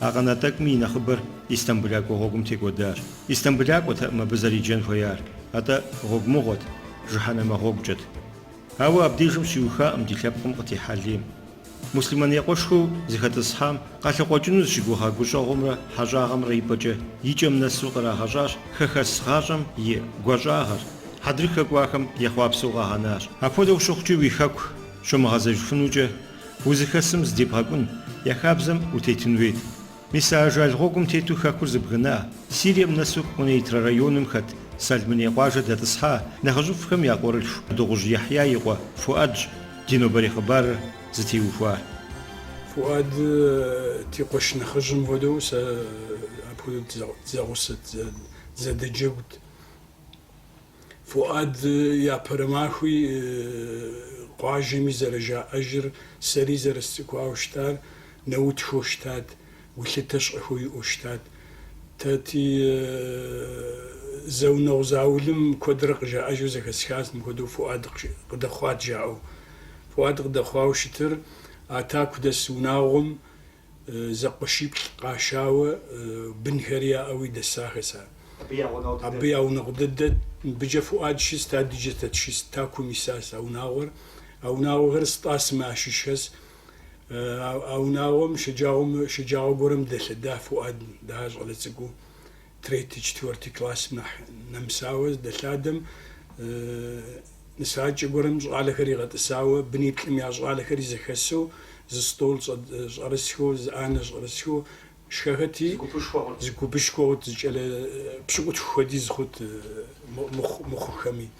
А къэна тӏэкӏуми и нэхъыбэр Истамбылакӏуэ гъуэгум текӏуэдащ. Истамбылакӏуэтэкъым абы зэриджэн хуеяр, атӏэ гъуэгумыгъуэт, жыхьэнэмэ гъуэгукӏэт. Ауэ абдежым щиухакъым ди лъэпкъым къытехьэ лейм. Муслъымэн я къуэшхэу зыхэтӏысхьам къалъыкъуэкӏыну зыщыгугъа гущӏэгъумрэ хьэщӏагъэмрэ ипӏэкӏэ и кӏэм нэсу кърагъэщӏащ хэхэс гъащӏэм и гуащӏагъэр, хьэдрыхэ кӏуахэм ехъуапсэу къагъэнащ. Апхуэдэу щыхъукӏи уи хэку щумыгъэзэжыфынукӏэ Узыхэсым зыдебгъэкӏун, я хабзэм утетын хуейт. Мис а ажал гъуэгум тету хэкур зыбгына, Сирием нэсу Къунейтрэ районым хэт Салмыней къуажэ дэтӏысхьа нэхъыжьыфӏхэм я къуэрылъху Дыгъужь Яхья и къуэ Фуӏэдщ ди нобэрей хъыбарыр зытеухуар. Фуӏэд ди къуэш нэхъыжьым хуэдэу сэ апхуэдэу дызэгъусэт, дызэдэджэгут. Фуад япэрэ махуи къуажэми зэрыжаӏэжыр, сэри зэрысцӏыкӏуауэ щытар нэутхэу щытат, гулъытэ щӏэхэу иӏэу щытат. Тэ ти зэунэгъу заулэм куэдрэ къыжаӏэжу зэхэсхащ, мыпхуэдэу Фуад къыдэхъуат жаӏэу. Фуад къыдэхъуауэ щытыр а таку дэс унагъуэм, зэкъуэшиплӏ къашауэ, бынхэри яӏэуи дэсахэс ар. Абы я унагъуэ дыдэт. Мыбыкӏэ Фуӏад щыст, адыджэ тэ тыщыст, Такум исащ а унагъуэр. А унагъуэхэр Стӏасымэ ящыщхэс. А унагъуэм шэджагъуэ гуэрэм дэлъэда Фуӏад, дыхьэр щӏалэ цӏыкӏуу. третий, четвертый классым нэхъ нэмысауэ здэлъадэм нысакӏэ гуэрым щӏалэхэр игъэтӏысауэ, быниплӏым я щӏалэхэри зэхэсу, зы стӏол щӏэрысхэу, зы ӏанэ щӏэрысхэу шхэхэти, зы гупышхуэ хъут, зы кӏэлэ пщыкӏутху хуэдиз хъут мыхъухэми.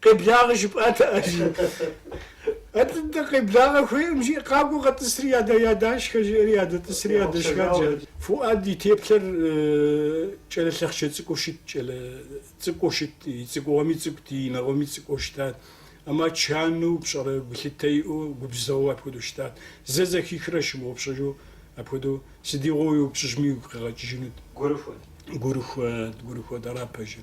Къеблагъэ жыпӏатэ Алий. Атӏэ-дэ къеблагъэ хуейкъым, жи, къакӏуэ къэтӏысри ядэ-ядэшхэ, жиӏэри ядэтӏысри ядэшхат. Фуӏад и теплъэр кӏэлэ лъэхъчэ цӏыкӏуу щытт, кӏэлэ цӏыкӏуу щытт, и цӏыкӏугъуэми цӏыкӏут, и нэгъуэми цӏыкӏуу щытат. Амма чану, пщӏэрэ гулъытэ иӏэу, губзыгъэу апхуэдэу щытат. Зэ зэхихрэ щымыгъупщэжу апхуэдэу, сыдигъуэу уеупщӏыжми, уигу къигъэкӏыжынут. Гурыхуэт. Гурыхуэт, гурыхуэт, ара пэжыр.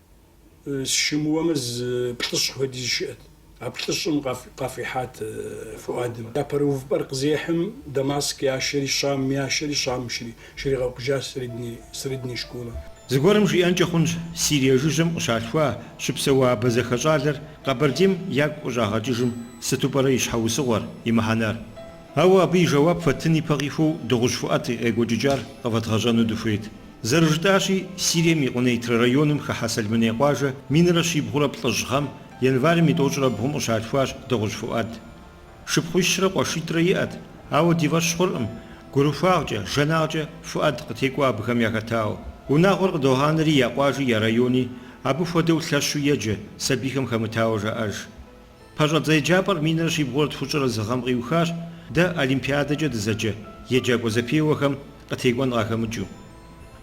Сщымыуэмэ, зы плӏыщӏ хуэдиз щыӏэт. А плӏыщӏым къафӏихьат Фуадым. Япэрэ увыпӏэр къызехьым, Дамаск яшэри, Щам яшэри, Щам щрагъэухыжащ средней школэ. Зыгуэрым жиӏэнкӏэ хъунщ, Сирие жыжьэм къыщалъхуа, щыпсэуа абазэхэ щӏалэр Къэбэрдейм ягу къыщӏагъэкӏыжым сыту пӏэрэ и щхьэусыгъуэр, и мыхьэнэр? Ауэ абы и жэуап фэттын ипэ къихуэу Дыгъужь Фуад и къекӏуэкӏыкӏар къывэдгъэщӏэну дыхуейт. Зэрыжытӏащи, Сирием и Къунейтрэ районым хыхьэ Сэлмыней къуажэ минрэ щибгъурэ плӏыщӏ гъэм, январым и тӏощӏрэ бгъум къыщалъхуащ Дыгъужь Фуӏэд. Шыпхъуищрэ къуэшитӏрэ иӏэт, ауэ ди фӏэщ хъуркъым, гурыхуагъкӏэ, жанагъкӏэ Фуӏэд къытекӏуэ абыхэм яхэтауэ. Унагъуэр къыдогъанэри я къуажи я райони абы хуэдэу лъэщу еджэ, сабийхэм хэмытауэ жаӏэж. Пэщӏэдзэ еджапӏэр минрэ щибгъурэ тхущӏрэ зы гъэм къиухащ дэ Олимпиадэкӏэ дызэджэ еджакӏуэ зэпеуэхэм къытекӏуэн къахэмыкӏыу.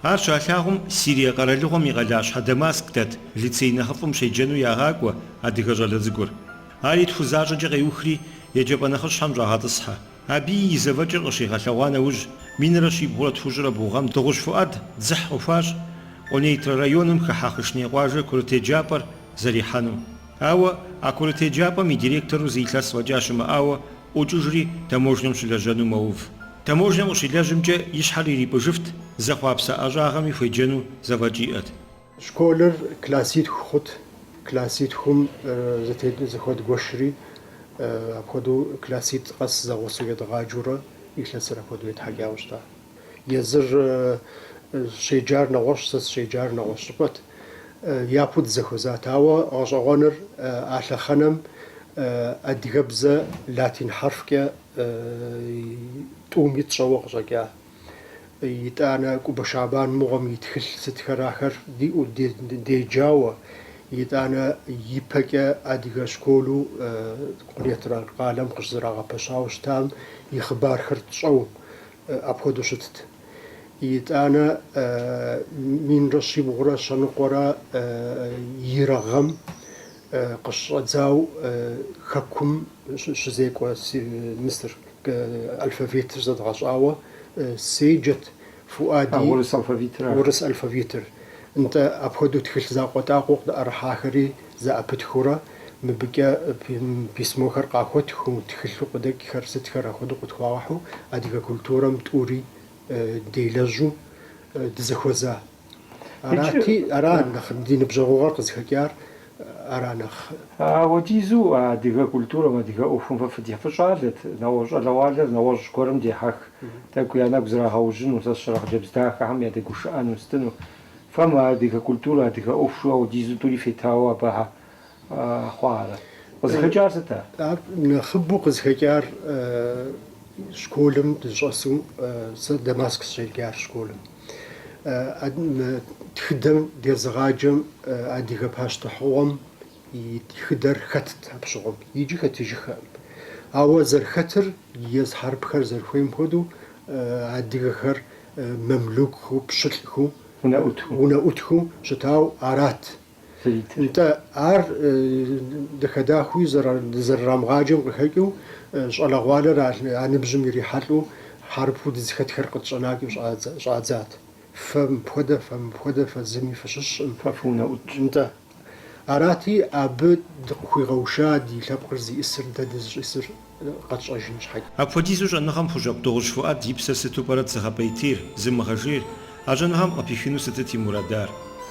Ар щалъагъум Сирие къэралыгъуэм и къалащхьэ Дамаск дэт лицей нэхъыфӏым щеджэну ягъакӏуэ адыгэ щӏалэ цӏыкӏур. Ари тху защӏэкӏэ къеухри, еджапӏэ нэхъыщхьэм щӏагъэтӏысхьэ. Абыи и зэфӏэкӏыр къыщигъэлъэгъуа нэужь, минрэ щибгъурэ тхущӏрэ бгъу гъэм Дыгъужь Фуӏэд дзыхь къыхуащӏ Къунейтрэ районым хыхьэ Хъышней къуажэ курыт еджапӏэр зэрихьэну. Ауэ а курыт еджапӏэм и директору зы илъэс фӏэкӏа щымыӏауэ ӏуокӏыжри, таможнэм щылэжьэну мэув. Таможнэм къыщилэжьымкӏэ и щхьэр ирипӏыжыфт, зэхъуапсэ ӏэщӏагъэми хуеджэну зэфӏэкӏ иӏэт. Школыр класситху хъут, класситхум зыхуэдгуэшри апхуэдэу класситӏ къэс зэгъусэу едгъаджэурэ илъэсыр апхуэдэу етхьэкӏауэ щыта. Езыр щеджар нэгъуэщӏ, сэ сыщеджар нэгъуэщӏ щӏыпӏэт. Япэу дызэхуэзат. Ауэ гъэщӏэгъуэныр а лъэхъэнэм адыгэбзэ латин хьэрфкӏэ тӏуми тщӏэуэ къыщӏэкӏа. Итӏанэ Кӏубэ Шабан мыгъуэм и тхылъ сытхэр ахэр диӏэу деджауэ, итӏанэ ипэкӏэ адыгэ школу Къунейтрэ къалэм къыщызэрагъэпэщауэ щытам и хъыбархэр тщӏэу, апхуэдэу щытт. Итӏанэ минрэ щибгъурэ щэныкъуэрэ ирэ гъэм къыщыщӏэдзауэ Хэкум щызекӏуэ мы сытыр алфавитыр зэдгъэщӏауэ седжэт Фуӏэди. А урыс алфавитыр ар? Урыс алфавитыр. Нтӏэ, апхуэдэу тхылъ закъуэтӏакъуэу къытӏэрыхьахэри зэӏэпытхыурэ Мыбыкӏэ письмохэр къахуэттхыу, тхылъу къыдэкӏхэр сытхэр ахуэдэу къытхуагъэхьу, адыгэ культурэм тӏури делэжьу дызэхуэза. Арати, ара нэхъ ди ныбжьэгъугъэр къызыхэкӏар, ара нэхъ. Ауэдизу а адыгэ культурэм, адыгэ ӏуэхум фэ фыдехьэх, фыщӏалэт, нэгъуэщӏ щӏалэгъуалэр нэгъуэщӏ гуэрым дехьэх, тӏэкӏу я нэгу зрагъэужьыну, сэ сщӏэрэ хъыджэбз дахэхэм ядэгушыӏэну, сытыну. Фэ мы адыгэ культурэ, адыгэ ӏуэхушхуэ ауэдизу тӏури фетауэ абы хьэ хъуа ара? Къызыхэкӏар сыт ар? Ар нэхъыбэу къызыхэкӏар школым дыщӏэсу, сэ Дамаск сыщеджар школым, тхыдэм дезыгъаджэм адыгэ пащтыхьыгъуэм и тхыдэр хэтт абы щыгъуэм. Иджы хэтыжыххэкъым. Ауэ зэрыхэтыр, езы хьэрыпхэр зэрыхуейм хуэдэу, адыгэхэр мамлюкхэу, пщылӏхэу, унэӏутхэу щытауэ арат. Нтӏэ, ар дахэ-дахэуи зэрырамыгъаджэм къыхэкӏыу, щӏалэгъуалэр а ныбжьым ирихьэлӏэу, хьэрыпу дызыхэтхэр къытщӏэнакӏэу щӏадзат. Фэ мыпхуэдэ, фэ мыпхуэдэ, фэ зыми фыщыщӏым. Фэ фыунэӏутщ. Нтӏэ. Арати, абы дыкъыхуигъэуша ди лъэпкъыр зиӏысыр, дэ дызищӏысыр къэтщӏэжын щхьэкӏэ. Апхуэдизу щӏэныгъэм хущӏэкъу Дыгъужь Фуӏад и псэр сыту пӏэрэт зыгъэпӏейтейр, зымыгъэжейр, а щӏэныгъэм къыпихыну сытыт и мурадар?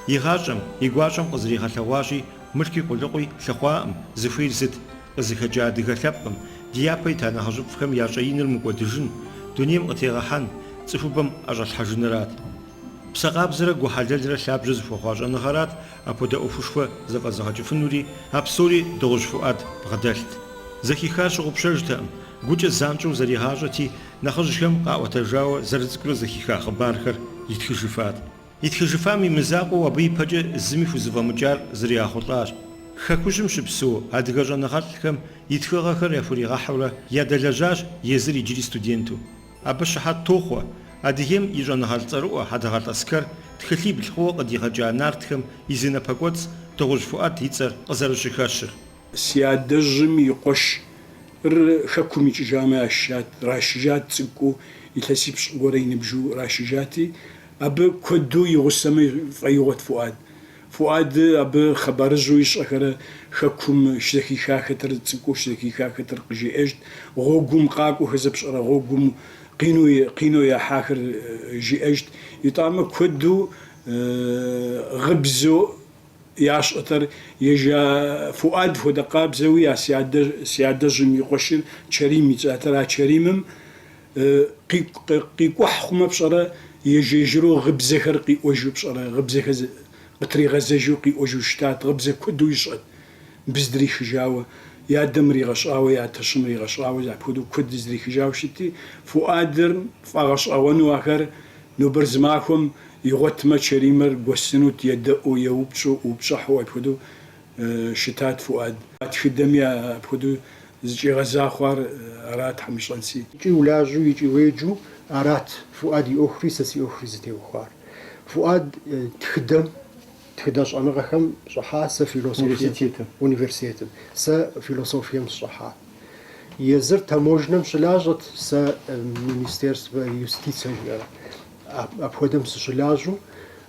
И гъащӏэм, и гуащӏэм къызэригъэлъэгъуащи, мылъкуи къулыкъуи лъыхъуакъым, зыхуейр сыт? Къызыхэкӏа адыгэ лъэпкъым, ди япэ ита нэхъыжьыфӏхэм я щӏэиныр мыкӏуэдыжын, дунейм къытегъэхьэн, цӏыхубэм ӏэщӏэлъхьэжынырат. Псэ къабзэрэ гу хьэлэлрэ лъабжьэ зыхуэхъуа щӏэныгъэрат апхуэдэ ӏуэхушхуэ зэфӏэзыгъэкӏыфынури, а псори Дыгъужь Фуӏад бгъэдэлът. Зэхихар щыгъупщэжтэкъым, гукӏэ занщӏэу зэригъащӏэти, нэхъыжьхэм къаӏуэтэжауэ зэрыцӏыкӏурэ зэхиха хъыбархэр итхыжыфат. Итхыжыфам и мызакъуэу абы ипэкӏэ зыми хузэфӏэмыкӏар зригъэхъулӏащ. Хэкужьым щыпсэу адыгэ щӏэныгъэлӏхэм и тхыгъэхэр яхуригъэхьурэ ядэлэжьащ езыр иджыри студенту. Абы щыхьэт тохъуэ Адыгейм и щӏэныгъэлӏ цӏэрыӏуэ Хьэдэгъэлӏ Аскэр тхылъибл хъууэ къыдигъэкӏа нартхэм и зы напэкӏуэцӏ Дыгъужь Фуӏэд и цӏэр къызэрыщыхэщыр. Си адэжьым и къуэшыр хэкум икӏыжамэ ящыщат, рашжат цӏыкӏуу, илъэсипщӏ гуэрэ и ныбжыу рашжати, абы куэду и гъусэмэ фӏэигъуэт Фуӏад. Фуад абы хъыбарыжъу ищӏэхэрэ хэкум щызэхихахэтэр, цӏыкӏуу щызэхихахэтэр къыжиӏэжт, гъуэгум къакӏуэхэр зэпщӏэрэ гъуэгум къину къинэу яхьахэр жиӏэжт, итӏамэ куэду гъыбзу ящӏэтэр ежа Фуад хуэдэ къабзэуи, а си адэ си адэжьым и къуэшыр Чэрим и цӏатэр, а Чэримым Къикӏухь хъумэ пщӏэрэ, ежь-ежьыру гъыбзэхэр къиӏуэжу пщӏэрэ, гъыбзэхэр къытригъэзэжу къиӏуэжу щытат, гъыбзэ куэду ищӏэт, быздрихыжауэ, и адэм ригъэщӏауэ, и атэщым ригъэщӏауэ, апхуэдэу куэд здрихыжауэ щытти, Фуӏадыр фӏэгъэщӏэгъуэну ахэр, нобэр зы махуэм игъуэтмэ, Чэримыр гуэсынут, едэӏуу, еупщӏу, упщӏыхьу, апхуэдэу. щытат Фуад. А тхыдэми апхуэдэу зыкӏигъэза хъуар арат, Хьэмыщӏэнси. Икӏи улажьэу, икӏи уеджэу арат Фуад и ӏуэхури сэ си ӏуэхури зытеухуар. Фуад тхыдэм, тхыдэ щӏэныгъэхэм щӏыхьа, сэ философием, университетым, сэ философием сщӏыхьа. Езыр таможнэм щылажьэт, сэ министерствэ юстицэ жиӏэр. Апхуэдэм сыщылажьэу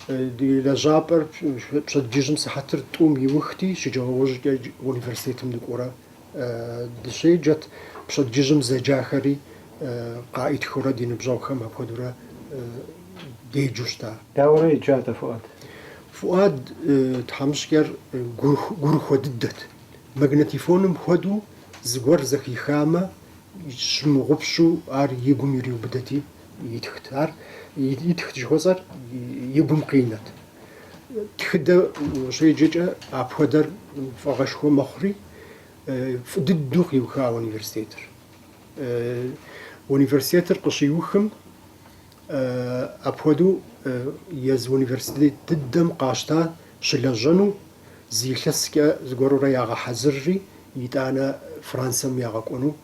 ди лэжьапӏэр пщэдджыжьым сыхьэтыр тӏум иухти, шэджагъуэ ужькӏэ университетым дыкӏуэурэ дыщеджэт. Пщэдджыжьым зэджахэри къаӏытхыурэ ди ныбжьэгъухэм апхуэдэурэ деджэу щыта. Дауэрэ еджа атӏэ Фуӏад? Фуӏад тхьэмыщкӏэр гурыхуэ дыдэт. Магнетифоным хуэдэу зыгуэр зэхихамэ, щымыгъупщэу ар и гум ириубыдэти, Итхт ар. Итхт жыхуэсӏэр и гум къинэт. Тхыдэ ущеджэкӏэ апхуэдэр фӏыгъуэшхуэ мэхъури, фӏы дыдэу къиуха университетыр. Университетыр къыщиухым, апхуэдэу езы университет дыдэм къащта щылэжьэну зы илъэскӏэ зыгуэрурэ ягъэхьэзырри, итӏанэ Францэм ягъэкӏуэну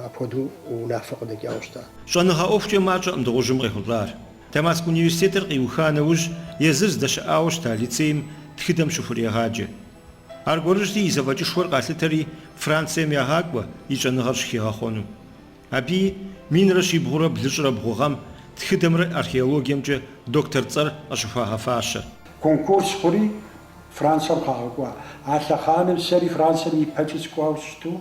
Апхуэдэу унафэ къыдэкӏауэ щыта? Щӏэныгъэ ӏуэхукӏэ мащӏэкъым Дыгъужьым къехъулӏар. Дамаск университетыр къиуха нэужь, езыр здэщыӏауэ щыта лицейм тхыдэм щыхурегъаджэ. Аргуэрыжьти, и зэфӏэкӏышхуэр къалъытэри Францием ягъакӏуэ и щӏэныгъэр щыхигъэхъуэну. Абыи, минрэ щибгъурэ блыщӏрэ бгъу гъэм, тхыдэмрэ археологиемкӏэ доктор цӏэр къыщыхуагъэфащэ. Конкурс хъури, Францием къагъэкӏуа. А лъэхъаным сэри Францием ипэкӏи сыкӏуауэ сщыту,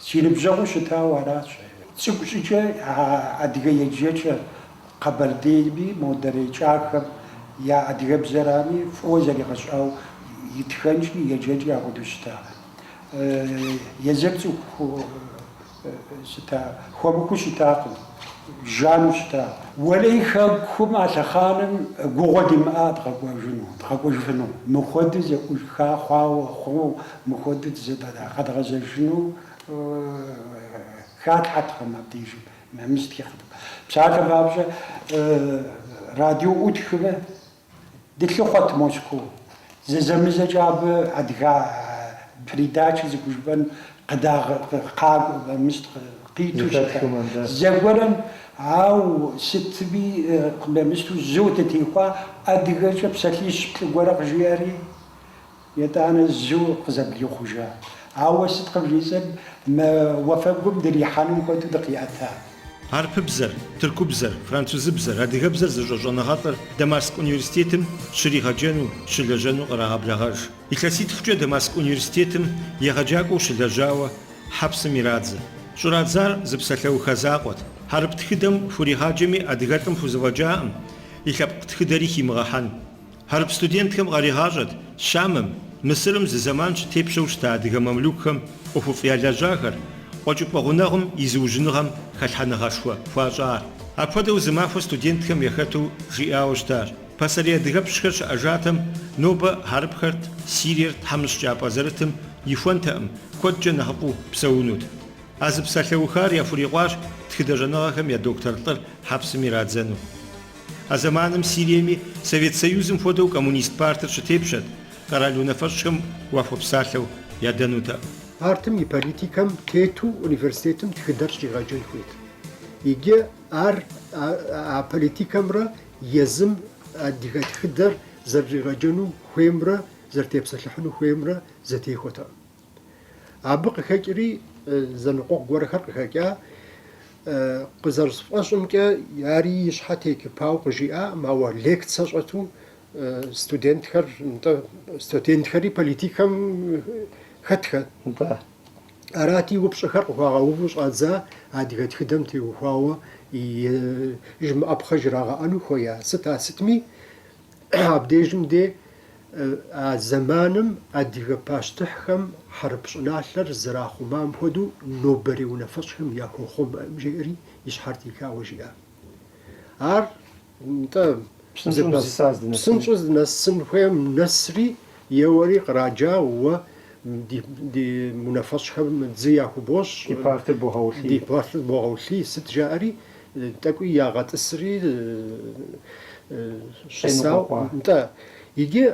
Си ныбжьэгъуу щытауэ аращ. Цӏыкӏу щӏыкӏэ а адыгэ еджэкӏэ къэбэрдейми, модрей кӏахэм я адыгэбзэрами фӏыуэ зэригъэщӏауэ итхэнкӏи, еджэкӏи ахуэдэу щыта. Езыр цӏыху щыта, хуэмыхуу щытакъым, жану щыта. Уэлэхьи, хэкум а лъэхъаным гугъэ димыӏа дыкъэкӏуэжыну, дыкъэкӏуэжыфыну. Мыхуэдэ зэӏуха хъуауэ хъуну. Мыхуэдэу къэдгъэзэжыну хатхьэртэкъым абдежым, нэмыс тхыхьэтэкъым. Псалъэм папщӏэ, радио ӏутхмэ, дылъыхъуэт Москоу. Зэзэмызэкӏэ абы адыгэ передачэ зыхужыпӏэн къыдагъэкъакӏуэ, къиту щытат. Зэгуэрым, ауэ сытми къымемысту, зэуэ дытехуа адыгэкӏэ псалъищ-плӏы гуэрэ къыжиӏэри, Етӏанэ зэуэ къызэблихъужа. Ауэ сыт къывжесӏэн, мы уафэгум дырихьэным хуэдэу дыкъиӏэта. Хьэрыпыбзэр, тыркубзэр, французыбзэр, адыгэбзэр зыщӏэ щӏэныгъэлӏыр Дамаск университетым щригъэджэну, щылэжьэну кърагъэблэгъэж. Илъэситхукӏэ Дамаск университетым егъэджакӏуэу щылэжьауэ хьэпсым ирадзэ. Щӏырадзар зы псалъэухэ закъуэт. Хьэрып тхыдэм хуригъаджэми адыгэлӏым хузэфӏэкӏакъым и лъэпкъ тхыдэри химыгъэхьэн. Хьэрып студентхэм къаригъащӏэт Щамым, Мысырым зы зэман щытепщэу щыта адыгэ мамлюкхэм ӏуэхуфӏ ялэжьахэр, къуэкӏыпӏэ гъунэгъум и зыужьыныгъэм хэлъхьэныгъэшхуэ хуащӏар. Апхуэдэу зы махуэ студентхэм яхэту жиӏауэ щытащ, Пасэрей адыгэпщхэр щыӏэжатэм, нобэ хьэрыпхэрт, Сириер тхьэмыщкӏапӏэ зэрытым ихуэнтэкъым, куэдкӏэ нэхъыфӏу псэунут. А зы псалъэухар яхурикъуащ тхыдэщӏэныгъэхэм я доктор лӏыр хьэпсым ирадзэну. А зэманым Сириеми Совет Союзым хуэдэу Коммунист партыр щытепщэт, къэрал унафэщӏхэм уахуэпсалъэу ядэнутэкъым. Партым и политикэм тету университетым тхыдэр щӏигъэджэн хуейт. Иджы ар а политикэмрэ езым адыгэ тхыдэр зэрыщӏигъэджэну хуеймрэ зэрытепсэлъыхьыну хуеймрэ зэтехуэтэкъым. Абы къыхэкӏри зэныкъуэкъу гуэрхэр къыхэкӏа, къызэрысфӏэщӏымкӏэ, ари и щхьэ текыпауэ къыжиӏакъым, ауэ лекцэ щӏэту студентхэр, нтӏэ, студентхэри политикэм хэтхэ. Нтӏэ. Арати, упщӏэхэр къыхуагъэуву щӏадза адыгэ тхыдэм теухуауэ жымыӏэпхъэ жрагъэӏэну хуея? Сыта сытми, Абдежым де а зэманым адыгэ пащтыхьхэм хьэрып щӏыналъэр зэрахъумам хуэдэу нобэрей унафэщӏхэм яхуэхъумэкъым, жеӏэри и щхьэр техауэ жиӏа. Ар нтӏэ, псынщӏэу здынэсын хуейм нэсри, еуэри къраджа уэ ди унафэщӏхэм дзы яхубощӏ, ди партыр богъэулъий, сыт жаӏэри, Тӏэкӏуи ягъэтӏысри щысауэ, нтӏэ, иджы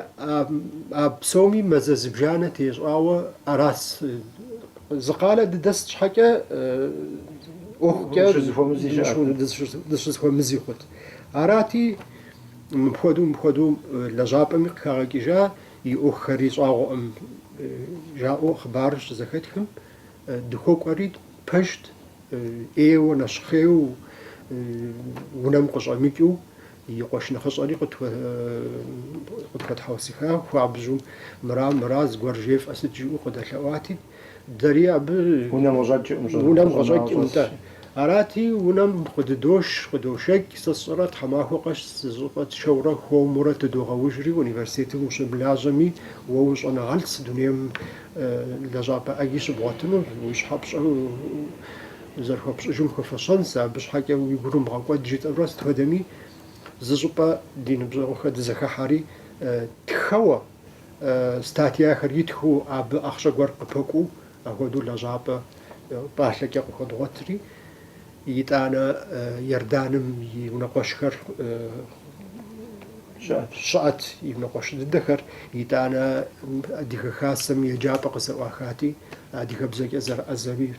а псоми мазэ зыбжанэ тещӏауэ арас. Зы къалэ дыдэст щхьэкӏэ ӏуэхукӏэ дыщызэхуэмызи хъут. Арати, мыпхуэдэу мыпхуэдэу лэжьапӏэми къыхагъэкӏыжа и ӏуэхухэри щӏагъуэкъым, жаӏэу хъыбарыр щызэхэтхым. Дыхуэкӏуэри пэжт, ӏейуэ, нэщхъейуэ унэм къыщӏэмыкӏыу, и къуэш нэхъыщӏэри къытхуэтхьэусыха хуабжьу, мыра, мыра, зыгуэр жефӏэ сыт жиӏэу къыдэлъэӏуати, дэри абы унэм къыщӏэкӏ нтӏэ. Арати, унэм къыдыдош, къыдошэкӏ, сэ сщӏэрэ тхьэмахуэ къэс зы щӏыпӏэ тшэурэ хуэмурэ тыдогъэужри, университетым ущымылажьэми, уэ ущӏэныгъэлӏс, дунейм лэжьапӏэ ӏэги щыбгъуэтыну, уи щхьэ пщӏэу зэрыхуэпщӏыжым хуэфэщэнс, абы щхьэкӏэ уи гур умыгъэкӏуэд жытӏэурэ сыт хуэдэми зы щӏыпӏэ ди ныбжьэгъухэр дызэхыхьэри тхэуэ статьяхэр итхыу абы ахъшэ гуэр къыпэкӏуу, ахуэдэу лэжьапӏэ пӏалъэкӏэ къыхуэдгъуэтри, Итӏанэ Иорданым и унэкъуэшхэр щыӏэт, и унэкъуэш дыдэхэр. Итӏанэ Адыгэ Хасэм еджапӏэ къызэӏуахати, адыгэбзэкӏэ зэрыӏэзэми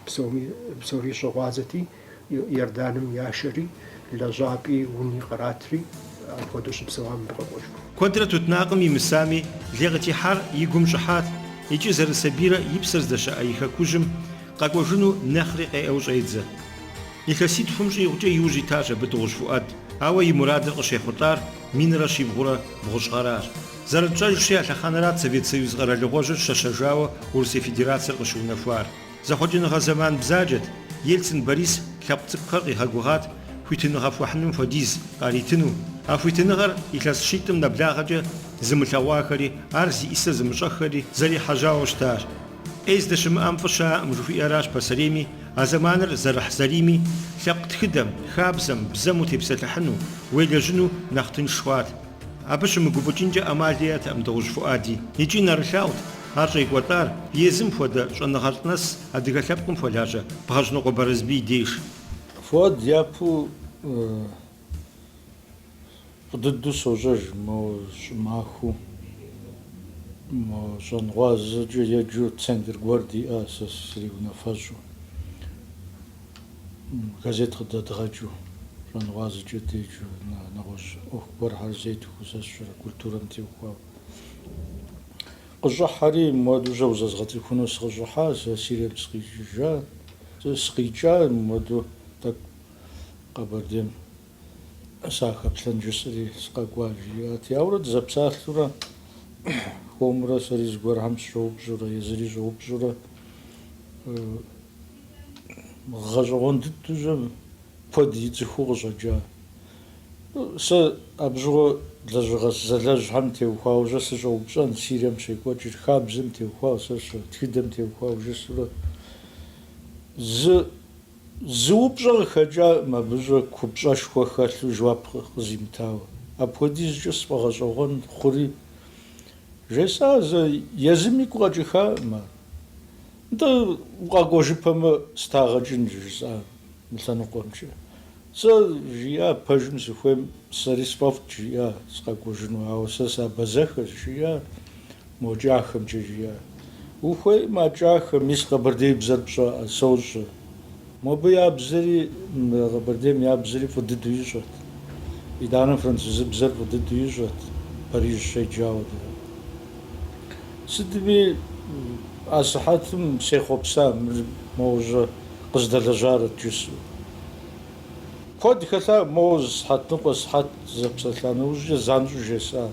псори щыгъуазэти, Иорданым яшэри, лэжьапӏи, уни къратри, апхуэдэу щыпсэуа мыбы къэкӏуэжыху. Куэдрэ тутнакъым имысами, лей къытехьар и гум щӏыхьат икӏи зэрысабийрэ и псэр здэщыӏэ и хэкужьым, Къэкӏуэжыну нэхъри къеӏэу щӏедзэ. Илъэситхум щӏигъукӏэ иужь итащ абы Дыгъужь Фуӏэд, ауэ и мурадыр къыщехъулӏар минрэ щибгъурэ бгъущӏ гъэращ. Зэрытщӏэжщи, а лъэхъэнэрат Совет Союз къэралыгъуэжьыр щэщэжауэ Урысей Федерацэр къыщыунэхуар. Зэхъуэкӏыныгъэ зэман бзаджэт, Ельцин Борис лъэпкъ цӏыкӏухэр къигъэгугъат хуитыныгъэ хуэхьыным хуэдиз къаритыну. А хуитыныгъэр илъэс щитӏым нэблагъэкӏэ зымылъэгъуахэри, ар зи ӏисэ зымыщӏэххэри зэрихьэжьауэ щытащ. Ӏей здыщымыӏэм фӏы щыӏэкъым жыхуиӏэращ пасэрейми а зэманыр зэрыхьзэрийми, лъэпкъ тхыдэм, хабзэм, бзэм утепсэлъыхьыну, уелэжьыну нэхъ тынш хъуат. Абы щымыгуфӏыкӏынкӏэ ӏэмал иӏэтэкъым Дыгъужь Фуӏэди. Икӏи нэрылъагъут ар щӏекӏуэлӏар езым хуэдэ щӏэныгъэлӏ нэс адыгэ лъэпкъым хуэлажьэ Бгъэжьнокъуэ Барэсбий деж. Фуӏэд япэу Дыдэу сощӏэж мо щӏымахуэу, мо щӏэнгъуазэкӏэ еджэу центр гуэр диӏэ сэ сриунафэщӏу, газет къыдэдгъэкӏыу, щӏэнгъуазэкӏэ деджэу, нэгъуэщӏ ӏуэху гуэрхэр зетхуэу сэ сщӏэрэ, культурэм теухуауэ. Къыщӏыхьэри мыуэдужьэ узэзгъэцӏыхуну сыкъыщӏыхьа, сэ Сирием сыкъикӏыжа, сыкъикӏа мыуэду тӏэкӏу. Къэбэрдейм сахэплъэн жысӏэри сыкъэкӏуащ, жиӏат. Ауэрэ дызэпсалъурэ хуэмурэ сэри зыгуэрхэм сыщоупщӏурэ езыри щӏоупщӏурэ гъэщӏэгъуэн дыдэжьэ куэд ицӏыхуу къыщӏэкӏа. Сэ абы щыгъуэ лэжьыгъэ зэлэжьхэм теухуаужьэ сыщӏоупщӏэн, Сирием щекӏуэкӏыр, хабзэм теухуауэ, сэ щэ тхыдэм теухуауэ жысӏурэ зы Зы упщӏэ къыхэкӏакъым абы щӏэ купщӏэшхуэ хэлъу жэуап къызимытауэ. Апхуэдизкӏэ сфӏэгъэщӏэгъуэн хъури, жесӏа зэ, езым игу къэкӏыххакъым ар. Нтӏэ, укъэкӏуэжыпэмэ, сыт ягъэ кӏын, жысӏа мы лъэныкъуэмкӏэ. Сэ, жиӏа, пэжым сыхуейм сэри сфӏэфӏт, жиӏа, сыкъэкӏуэжыну, ауэ сэ сабэзэхэщ, жиӏа. Мо кӏахэмкӏэ жиӏэ. Ухуеймэ, а кӏахэр, мис къэбэрдейбзэр пщӏэрэ, сощӏэ. Мобы я бзэри, Къэбэрдейм я бзэри фӏы дыдэу ищӏэрт. Итӏанэ французыбзэр фӏы дыдэу ищӏэрт, Париж щеджауэ дэ. Сытми, асыхьэтым сехъуэпса моужьэ къыздэлэжьарэт жысӏэу. Куэд хэлъа моуэ зы сыхьэтныкъуэ сыхьэт зэпсэлъа нэужькӏэ занщӏэу жесӏа.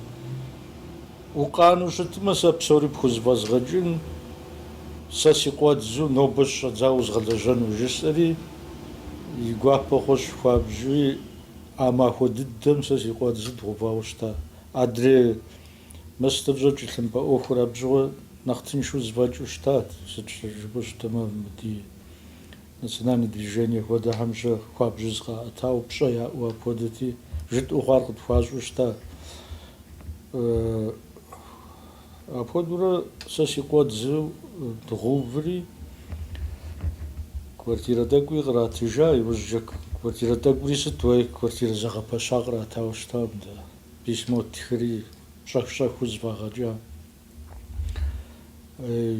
Укъанэу щытмэ, сэ псори пхузэфӏэзгъэкӏын, сэ си къуэдзу нобэ щыщӏэдзауэ узгъэлэжьэну, жысӏэри, и гуапэ хъущ хуабжьуи, а махуэ дыдэм сэ си къуэдзу дгъэувауэ щыта. Адрей мыстэужьэ тхылъымпӏэ ӏуэхур абы щыгъуэ нэхъ тыншу зэфӏэкӏыу щытат, сыт жыпӏэу щытмэ мыбдии. Национальное движение хуэдэхэм жьэ хуабжьу зыкъаӏэтауэ пщӏэ яӏэу апхуэдэти, жытӏэу хъуар къытхуащӏу щыта. Апхуэдэурэ сэ си къуэдзу дгъэуври, квартирэ тӏэкӏуи къратыжа, иужькӏэ квартирэ тӏэкӏури сыт уей, квартирэ зэгъэпэща къратауэ щытакъым дэ, письмо тхри щӏэх-щӏэхыу зэфӏагъэкӏа.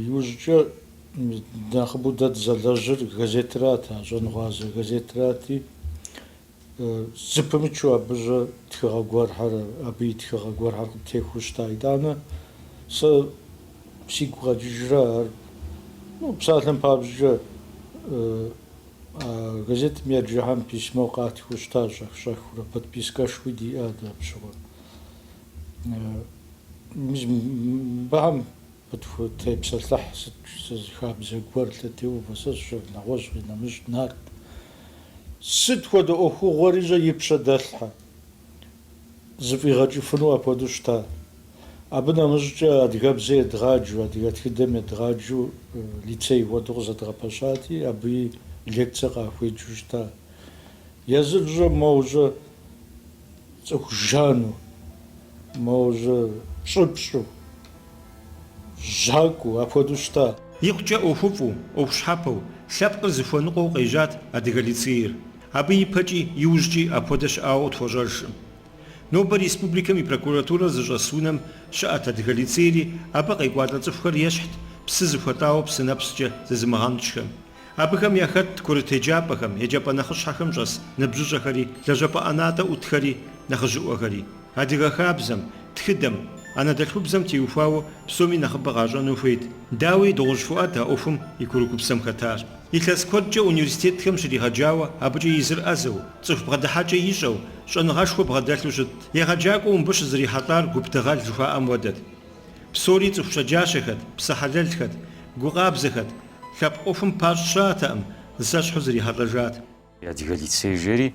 Иужькӏэ нэхъыбэу дэ дызэлэжьыр газетрат, а Щӏэнгъуазэ газетрати, зыпымычу абыжьэ тхыгъэ гуэрхэр, абы и тхыгъэ гуэрхэр къытехуэу щыта. Итӏанэ сэ сигу къэкӏыжрэ ар, псалъэм папщӏкӏэ, а газетым еджэхэм письмо къатхэу щыта, щӏэх-щӏэхыурэ, подпискэшхуи диӏэ атӏэ абы щыгъуэ. Мыбыхэм къытхутепсэлъыхь сыт зы хабзэ гуэр, лъэтеувэ, сэ сщӏэрэ, нэгъуэщӏ къинэмыщӏ нарт. Сыт хуэдэ ӏуэхугъуэри жьэ и пщэ дэлъхьэ, зэфӏигъэкӏыфыну апхуэдэу щыта. Абы нэмыщӏкӏэ адыгэбзэ едгъаджу, адыгэ тхыдэм едгъаджу лицей хуэдэу къызэдгъэпэщати, абыи лекцэ къахуеджэу щыта. Езыр жьэ, моужьэ. Цӏыху жану, моужьэ пщӏыпщӏу, жьакӏуэу, апхуэдэу щыта. Икъукӏэ ӏуэхуфӏу, ӏуэху щхьэпэу, лъэпкъыр зыхуэныкъуэу къежьат Адыгэ лицейр. Абы ипэкӏи, иужькӏи апхуэдэ щыӏауэ къытхуэщӏэжкъым. Нобэ республикэм и прокуратурэр зыщӏэс унэм щыӏэт Адыгэ лицейри, абы къекӏуалӏэ цӏыхухэр ещхьт псы зыхуэлӏауэ псынэпскӏэ зызымыгъэнщӏхэм. Абыхэм яхэтт курыт еджапӏэхэм, еджапӏэ нэхъыщхьэхэм щӏэс ныбжьыщӏэхэри, лэжьапӏэ ӏэнатӏэ ӏутхэри, нэхъыжьыӏуэхэри. Адыгэ хабзэм, тхыдэм, анэдэлъхубзэм теухуауэ псоми нэхъыбэ къащӏэну хуейт. Дауи, Дыгъужь Фуӏад а ӏуэхум и курыкупсэм хэтар илъэс куэдкӏэ университетхэм щригъэджауэ, абыкӏэ езыр ӏэзэу, цӏыху бгъэдыхьэкӏэ ищӏэу, щӏэныгъэшхуэ бгъэдэлъу щытт. Егъэджакӏуэу мыбы щызэрихьэлӏар гуп дыгъэл жыхуаӏэм хуэдэт. Псори цӏыху щэджащэхэт, псэ хьэлэлхэт, гукъабзэхэт. Лъэпкъ ӏуэхум пащӏ щыӏэтэкъым, зэщхьу зэрихьэлӏэжат. Адыгэ лицей жери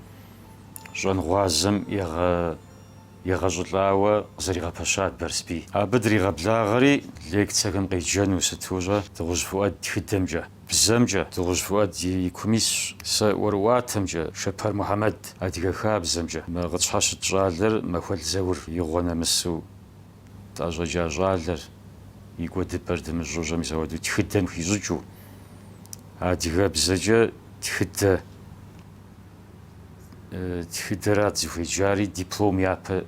щӏэнгъуазэм егъэщӏылӏауэ къызэригъэпэщат Барэсбий. Абы дригъэблагъэри лекцэхэм къеджэну, сыту щӏэ, Дыгъужь Фуӏэд тхыдэмкӏэ, бзэмкӏэ, Дыгъужь Фуӏэд и кум исщ, сэ ӏуэрыӏуатэмкӏэ, Шэпэр Мухьэмэд, адыгэ хабзэмкӏэ, мы къытщхьэщыт щӏалэр Махуэл Заур игъуэ нэмысу Тӏэщӏэкӏа щӏалэр и кӏуэдыпӏэр дымыщӏэу щӏэ мис ауэдэу тхыдэм хищӏыкӏыу, адыгэбзэкӏэ тхыдэ, тхыдэрат зыхуеджари, диплом япэ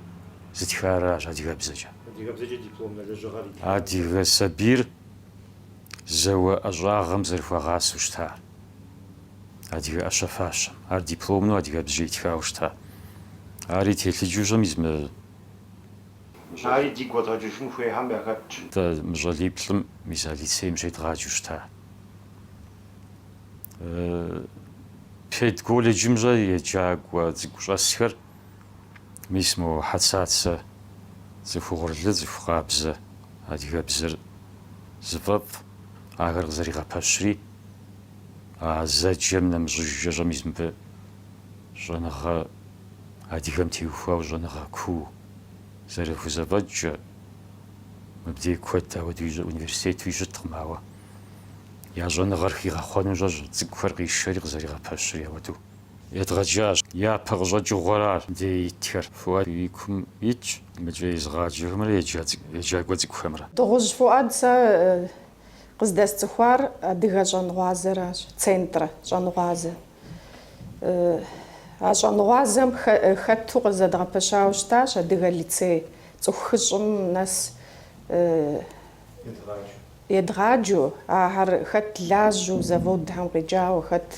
зытхар аращ адыгэбзэкӏэ. Адыгэбзэкӏэ дипломнэ лэжьыгъэр итхар? Адыгэ сабийр зауэ ӏэщӏагъэм зэрыхуагъасэу щытар, адыгэ ӏэщэ-фащэм, ар дипломну адыгэбзэкӏэ итхауэ щыта. Ари телъыджэу щӏэ мис мы. Ари дигу къэдгъэкӏыжын хуейхэм яхэтщ. Дэ мы щӏалиплӏым мис а лицейм щедгъаджэу щыта. Педколледжым щӏэ еджакӏуэ цӏыкӏу щӏэсхэр мис мо Хьэцацэ цӏыху угъурлы, цӏыху къабзэ адыгэбзэр зыфӏэфӏ, ахэр къызэригъэпэщри, а зэджэм нэмыщӏыжкӏэ щӏэ мис мыбы щӏэныгъэ адыгэм теухуауэ щӏэныгъэ куу. зэрыхузэфӏэкӏкӏэ, мыбдеж куэд ауэдэу университетуи щыткъым, ауэ я щӏэныгъэр хигъэхъуэну щӏэ щӏэ, цӏыкӏухэр къишэри къызэригъэпэщри ауэдэу едгъэджащ. Япэ къыщӏэкӏыгъуэр ар мыбдеж итхэр. Фуӏад и кум итщ мыкӏэ езыгъаджэхэмрэ еджакӏуэ цӏыкӏухэмрэ. Дыгъужь Фуӏад, сэ къыздэсцӏыхуар адыгэ щӏэнгъуазэращ, центрэ щӏэнгъуазэ. А щӏэныгъуазэм хэту къызэдгъэпэщауэ щытащ Адыгэ лицей цӏыху хыщӏым нэс едгъаджэу, ахэр хэт лажьэу заводхэм къикӏауэ, хэт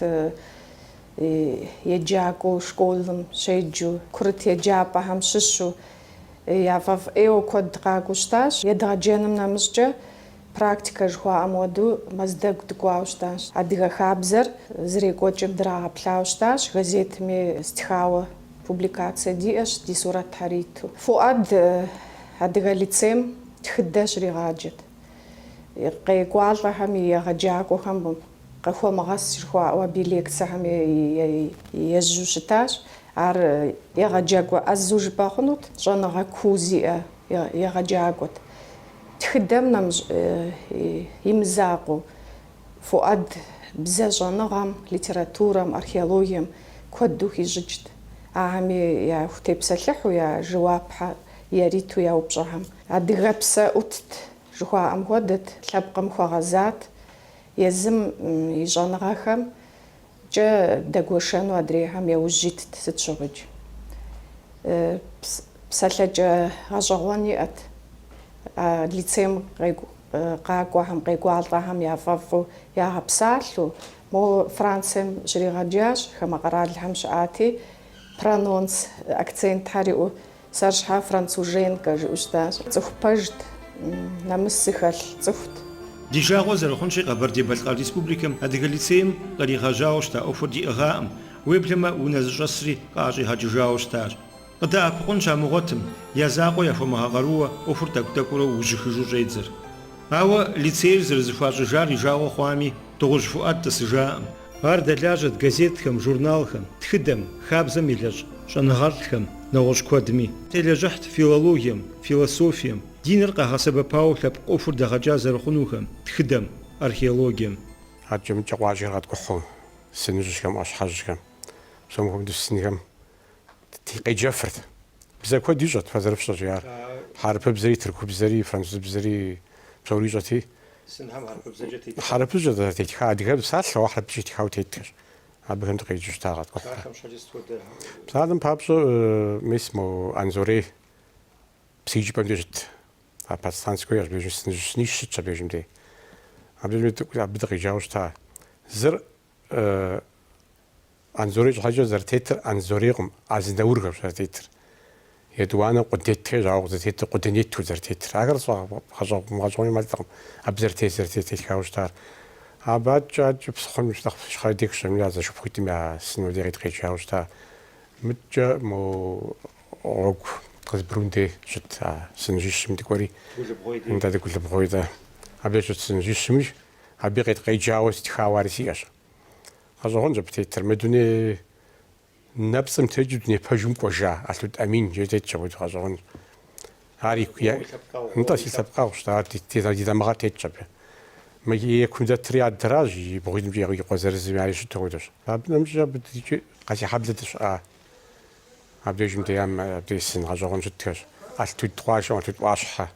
еджакӏуэу школым щеджэу, курыт еджапӏэхэм щыщу яфӏэфӏ ӏейуэ куэд къакӏуэу щытащ. Едгъэджэным нэмыщӏкӏэ, Практикэ жыхуаӏэм хуэдэу Мэздэгу дыкӏуауэ щытащ. Адыгэ хабзэр зэрекӏуэкӏым драгъэплъауэ щытащ, газетми стхауэ публикацэ диӏэщ, ди сурэтхьэр иту. Фуӏад Адыгэ лицейм тхыдэ щригъаджэт. Къекӏуалӏэхэми егъэджакӏуэхэм къыхуэмыгъэс жыхуаӏэу абы и лекцэхэм ежьэу щытащ. Ар егъэджакӏуэ ӏэзэу жыпӏэ хъунут, щӏэныгъэ куу зиӏэ егъэджакӏуэт. Тхыдэм нэмыщӏ и мызакъуэу, Фуӏад бзэ щӏэныгъэм, литературэм, археологием куэду хищӏыкӏт, ахэми яхутепсэлъыхьу, я жэуапхьэ яриту я упщӏэхэм. Адыгэпсэ ӏутт, жыхуаӏэм хуэдэт, лъэпкъым хуэгъэзат, езым и щӏэныгъэхэм кӏэ дэгуэшэну адрейхэм яужь итт, сыт щыгъуикӏ. Псалъэкӏэ гъэщӏэгъуэн иӏэт. А лицейм къакӏуэхэм, къекӏуалӏэхэм яфӏэфӏу ягъэпсалъэу, мо Францием щригъэджащ, хамэ къэралхэм щыӏати, прононс, акцентхэр иӏэу Сэр щхьа француженкэ жиӏэу щытащ. Цӏыху пэжт, нэмыс зыхэлъ цӏыхут. Ди жагъуэ зэрыхъунщи, Къэбэрдей-Балъкъэр Республикэм Адыгэ лицейм къригъэжьауэ щыта ӏуэхур диӏыгъакъым, уеблэмэ унэ зыщӏэсри къаӏэщӏигъэкӏыжауэ щытащ. Къыдэӏэпыкъун щамыгъуэтым, я закъуэ яхуэмыгъэкъарууэ ӏуэхур тӏэкӏу-тӏэкӏуурэ ужьыхыжу щӏедзэр. Ауэ лицейр зэрызэхуащӏыжар и жагъуэ хъуами, Дыгъужь Фуӏад тӏысыжакъым. Ар дэлажьэт газетхэм, журналхэм, тхыдэм, хабзэм елэжь щӏэныгъэлӏхэм, нэгъуэщӏ куэдми. Телэжьыхьт филологием, философием, диныр къагъэсэбэпауэ лъэпкъ ӏуэхур дэгъэкӏа зэрыхъунухэм, тхыдэм, археологием. Адкӏэ-мыдкӏэ къуажэр къэткӏухьу, сыныжьхэм, ӏуащхьэжьхэм, псом хуэмыдэу сынхэм къеджэфырт. Бзэ куэд ищӏэрт фэ зэрыфщӏэщи ар. Хьэрыпыбзэри, тыркубзэри, французыбзэри псори ищӏэрти. Сынхэм хьэрыпыбзэкӏэ тетхэ. Хьэрыпыбзэкӏэ дэ тетха. Адыгэ псалъэу ар хьэрыпыбзэкӏэ тетхауэ тетхэщ. Абыхэм дыкъеджэу щыта къэткӏухьурэ. Псалъэм щхьэкӏэ сыт хуэдэ? Псалъэм папщӏэ мис мо Анзорей псыижыпӏэм дей щыт. А подстанцэм и щӏыб дежым сыныжьищ щытщ абдежым дей. Абдежым дэ тӏэкӏу абы дыкъеджауэ щыта. Зыр Анзорей щхьэкӏэ зэрытетыр Анзорейкъым, Азнаурхэщ зэрытетыр. Етӏуанэ Къудетхэр жаӏэу къызэтетыр Къуденету зэрытетыр. Ахэр сфӏэгъэщӏэгъуэну мэлӏкъым, абы зэрытет зэрытет тетхауэ щытар. Абыкӏэ адэкӏэ псыхъуэм нэхъ ищхъэрэ дех щӏэмыну а зэшыпхъуитӏым я сынуэ дей къеткъеджауэ щыта. Мыдкӏэ мо гъуэгу Къызбрун дей щыт а сыныжьищым дыкӏуэри. Дэ Дыгулыбгъуей, дэ. Абдеж щыт сыныжьищым, абы къеткъеджауэ стхауэ ари сиӏэщ. Гъэщӏэгъуэнщ абы тетыр. Мы дуней нэпцӏым текӏыу дуней пэжым кӏуэжа Алъут Амин жери тетщ абы, гъэщӏэгъуэнщ. Ар и, Фӏыуэ уи лъэпкъэгъу, нтӏэ, си лъэпкъэгъущ, ар ди, ди, ди дамыгъэр тетщ абы. Мы е кум дэтри адэращ, и бгъуитӏымкӏэ и къуэ зырызми ари щыту хуэдэщ. Абы нэмыщӏ абы дыдикӏи Къэсейхьэблэ дыщыӏа, абдежым деям абдеж сын гъэщӏэгъуэн щытхэщ. Алътуд къуажэм Алъут ӏуащхьэ.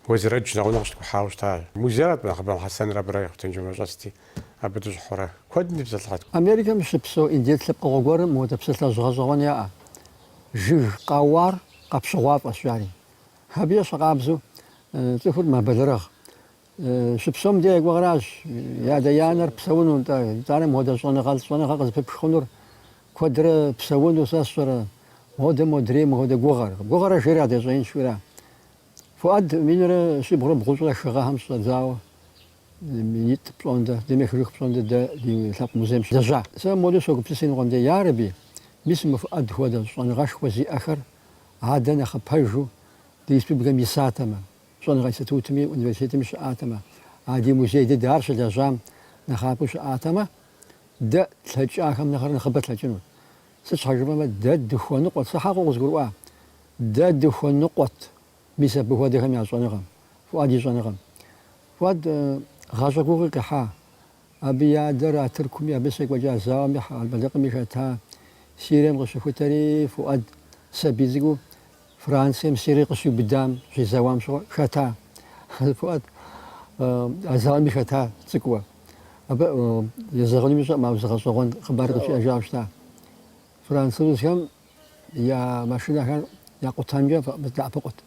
Уэзрэдж нэгъунэ къыщыткӏухьауэ щыта музейр абы нэхъыбэм Хьэсэнрэ абырэ Хъутэнджэмрэ щӏэсти, абы дыщӏыхьурэ. Куэдым дытепсэлъыхьт. Америкэм щыпсэу индец лъэпкъыгъуэ гуэрым мыуэдэ псалъэжь гъэщӏэгъуэн яӏэ. Жыг къэуар къэпщыгъуафӏэщ жари. Абы ещхьэ къабзэу цӏыхур мэбэлэрыгъ. Щыпсэум дэ ди гугъэращ и адэ и анэр псэуну, нтӏэ, итӏанэ мыуэдэ щӏэныгъэлӏ щӏэныгъэ къызыпыпх хъунур. Куэдрэ псэуну сэ сщӏэрэ, модэ модрей мыуэдэ гугъэр. Гугъэр, жери, адэ щӏэинщ, жиӏэра? Фуӏад минрэ щибгъурэ бгъущӏрэ хы гъэхэм щӏэдзауэ минитӏ пщӏондэ, дунейм ехыжыху пщӏондэ дэ ди лъэпкъ музейм щылэжьа. Сэ модэу согупсыс иныкъуэм де, ярэби, мис мы Фуӏад хуэдэ щӏэныгъэшхуэ зиӏэхэр адэ нэхъыпэжу ди республикэм исатэмэ, щӏэныгъэ институтми, университетми щыӏатэмэ, а ди музей дыдэ ар щылэжьам нэхъапэу щыӏатэмэ, дэ тлъэкӏахэм нэхърэ нэхъыбэ тлъэкӏынут. Сыт щхьэ жыпӏэмэ, дэ дыхуэныкъуэт. Сэ хьэкъыу къызгурыӏуа, дэ дыхуэныкъуэт, мис абы хуэдэхэм я щӏэныгъэм, Фуӏад и щӏэныгъэм. Фуӏад гъащӏэ гугъи къихьа. Абы и адэр а Тыркуми, абы щекӏуэкӏа зауэми Хьэрбэлыкъми хэта. Сирием къыщыхутэри Фуӏад сабий цӏыкӏуу Францием Сирие къыщиубыдам щезэуам щыгъуэ хэта. Фуӏад а зауэми хэта цӏыкӏуу. Абы езэгъынуми сщӏэӏым, ауэ зы гъэщӏэгъуэн хъыбар къызжиӏэжауэ щыта. Французхэм я машинэхэр якъутэнкӏэ дэӏэпыкъут.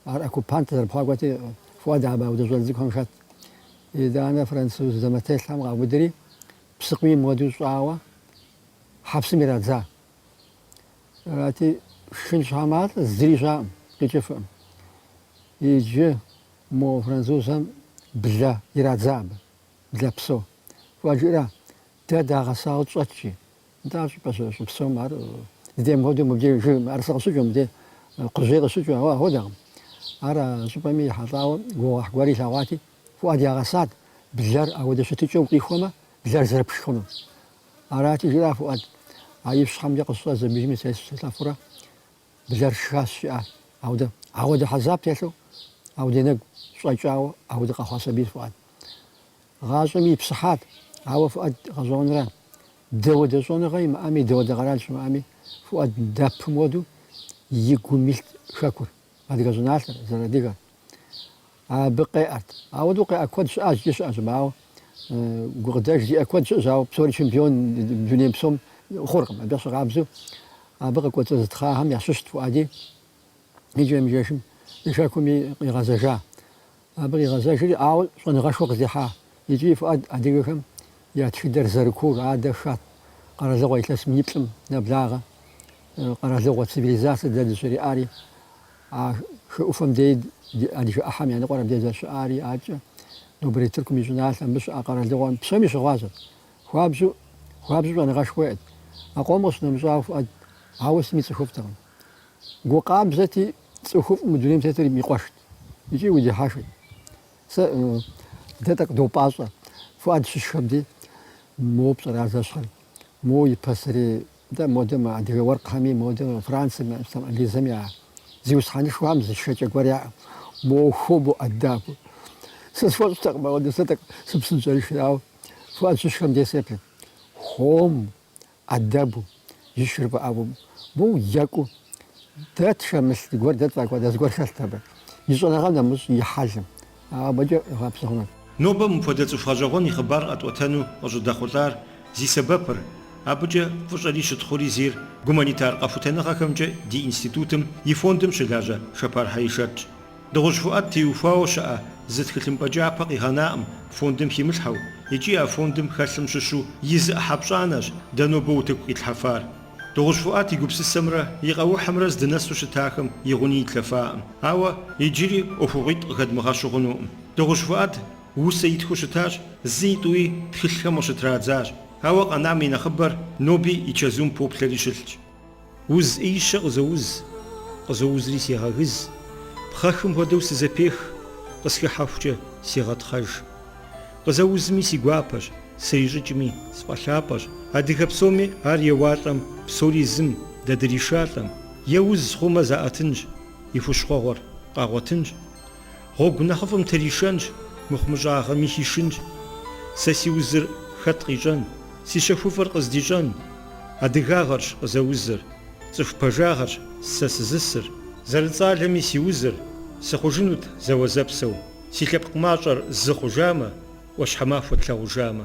Ар оккупант зэрыпхъуакӏуэти, Фуӏад абы ауэдэ щӏалэ цӏыкӏухэм хэт. Итӏанэ француз дамэтелъхэм къаубыдри, псыкъуийм хуэдэу щӏауэ хьэпсым ирадза. Арати, шхын щхьэматӏэ зыри щыӏэкъым, къикӏыфкъым. Иджы мо французхэм блэ ирадза абы, блэ псо. Фуӏад жиӏэра, дэ дагъэсауэ тщӏэт жи, нтӏэ, ар щӏыпӏэ щыӏэ, щыпсэум ар дыдейм хуэдэу мыбдеж жыг мыӏэрысэ къыщыкӏыу, мыбдеж кхъужьей къыщыкӏыу, ауэ ахуэдэкъым. Ар а щӏыпӏэми ехьэлӏауэ гугъуехь гуэр илъэгъуати, Фуӏад ягъэсат блэр ауэдэ щытыкӏэу къихуэмэ, блэр зэрыпшхынур. Арати, жиӏа Фуӏад, а ипщхьэмкӏэ къысщӏэ зэмыжми слъэфурэ блэр сшхащ жиӏа. Ауэдэ, ауэдэ хьэзаб телъу, ауэдэ и нэгу щӏэкӏауэ ауэдэ къэхъуа сабийт Фуӏад. Гъащӏэми ипсыхьат, ауэ Фуӏад гъэщӏэгъуэнра, дауэдэ щӏэныгъэ имыӏэми, дауэдэ къэрал щымыӏэми, Фуӏад дэпым хуэдэу и гум илът хэкур, адыгэ щӏыналъэр, зэрыадыгэр. Абы къеӏэрт. Ауэдэу къеӏэ куэд щыӏащ, икӏи щыӏэщ, ауэ гукъыдэж зиӏэ куэд щыӏэщ, ауэ псори чемпион дунейм псом хъуркъым. Абы ещхьыркъабзэу абы къыкӏуэцӏызытхъахэм ящыщт Фуӏэди икӏэм-икӏэжым и хэкум къигъэзэжа. Абы къигъэзэжри, ауэ щӏэныгъэшхуэ къыздихьа. Икӏи Фуӏэд адыгэхэм я тхыдэр зэрыкуур адэ Хат къэралыгъуэ илъэс миниплӏым нэблагъэ къэралыгъуэ цивилизацэ дэ дызэриӏари. А хы ӏуфэм дей ди адыгэ ӏыхьэм я ныкъуэр абдей зэрыщыӏари, адэкӏэ нобэрей Тыркум и щӏыналъэ, абы щыӏа къэралыгъуэхэм псоми щыгъуазэт. Хуабжьу, хуабжьу щӏэныгъэшхуэ иӏэт. А къом къыщынэмыщӏауэ Фуӏэд ауэ сытми цӏыхуфӏтэкъым. Гу къабзэти, цӏыхуфӏ мы дунейм тетыр и къуэшт икӏи удихьэхт. Сэ дэ тӏэкӏу допӏащӏэ, Фуӏэд щышхэм дей, мо пщӏэрэ ар зэщхьыр, мо и пасэрей Дэ модэм а адыгэ уэркъхэми, модэм а Францэм я, Инджылызым я зиусхьэнышхуэхэм зы шхэкӏэ гуэр яӏэу, мо хуэму, ӏэдэбу. Сэ схуэщӏтэкъым, ауэдэу слъэкӏтэкъым, сыпсынщӏэрышхэт, ауэ Фуӏэд щышхэм дей сеплъырт, хуэму, ӏэдэбу ишхыр фӏэӏэфӏу, моу екӏуу дэ тхэмылъ зыгуэр, дэ тфӏэкӏуэда зыгуэр хэлът абы, и щӏэныгъэм нэмыщӏ и хьэлым, Абыкӏэ гъэпсауэ. Нобэ мыпхуэдэ цӏыху гъэщӏэгъуэн и хъыбар къэтӏуэтэну къыщӏыдэхъулӏар зи сэбэпыр, абыкӏэ фӏыщӏэри щытхъури зейр гуманитар къэхутэныгъэхэмкӏэ ди институтым и фондым щылажьэ Шэпар Хьэишэтщ. Дыгъужь Фуӏэд теухуауэ щыӏэ зы тхылъымпӏэ кӏапэ къигъэнаӏым фондым химылъхьэу икӏи а фондым хэлъым щыщу и зы ӏыхьэ пщӏанэщ дэ нобэ утыку къитлъхьэфар. Дыгъужь Фуӏэд и гупсысэмрэ и къэухьымрэ здынэсу щытахэм и гъуни итлъэфаӏым. Ауэ иджыри ӏуэхугъуитӏ къыхэдмыгъэщу хъунукъым. Дыгъужь Фуӏэд усэ итхыу щытащ, зытӏуи тхылъхэм къыщытрадзащ. Ауэ къэнам и нэхъыбэр ноби и чэзум поплъэри щылъщ. Уз ӏеищэ къызоуз, къызоузри сегъэгыз, пхъэхым хуэдэу сызэпех, къысхыхьэхукӏэ сегъэтхъэж. Къызэузми си гуапэщ, срищӏыкӏми, сфӏэлъапӏэщ, адыгэ псоми ар еуалӏэм, псори зым дэ дришалӏэм, я уз хъумэ заӏэтынщ, и хущхъуэгъуэр къагъуэтынщ, гъуэгу нэхъыфӏым тришэнщ, мыхъумыщӏагъэми хишынщ. Сэ си узыр хэт къищӏэн, си щэхуфӏыр къыздищӏэн? Адыгагъэрщ къызэузыр, цӏыху пэжагъэрщ сэ сызысыр. Зэрыцӏалэми си узыр, сыхъужынут зэуэзэпсэу. Си лъэпкъ мащӏэр зы хъужамэ, ӏуащхьэмахуэ тлъагъужамэ.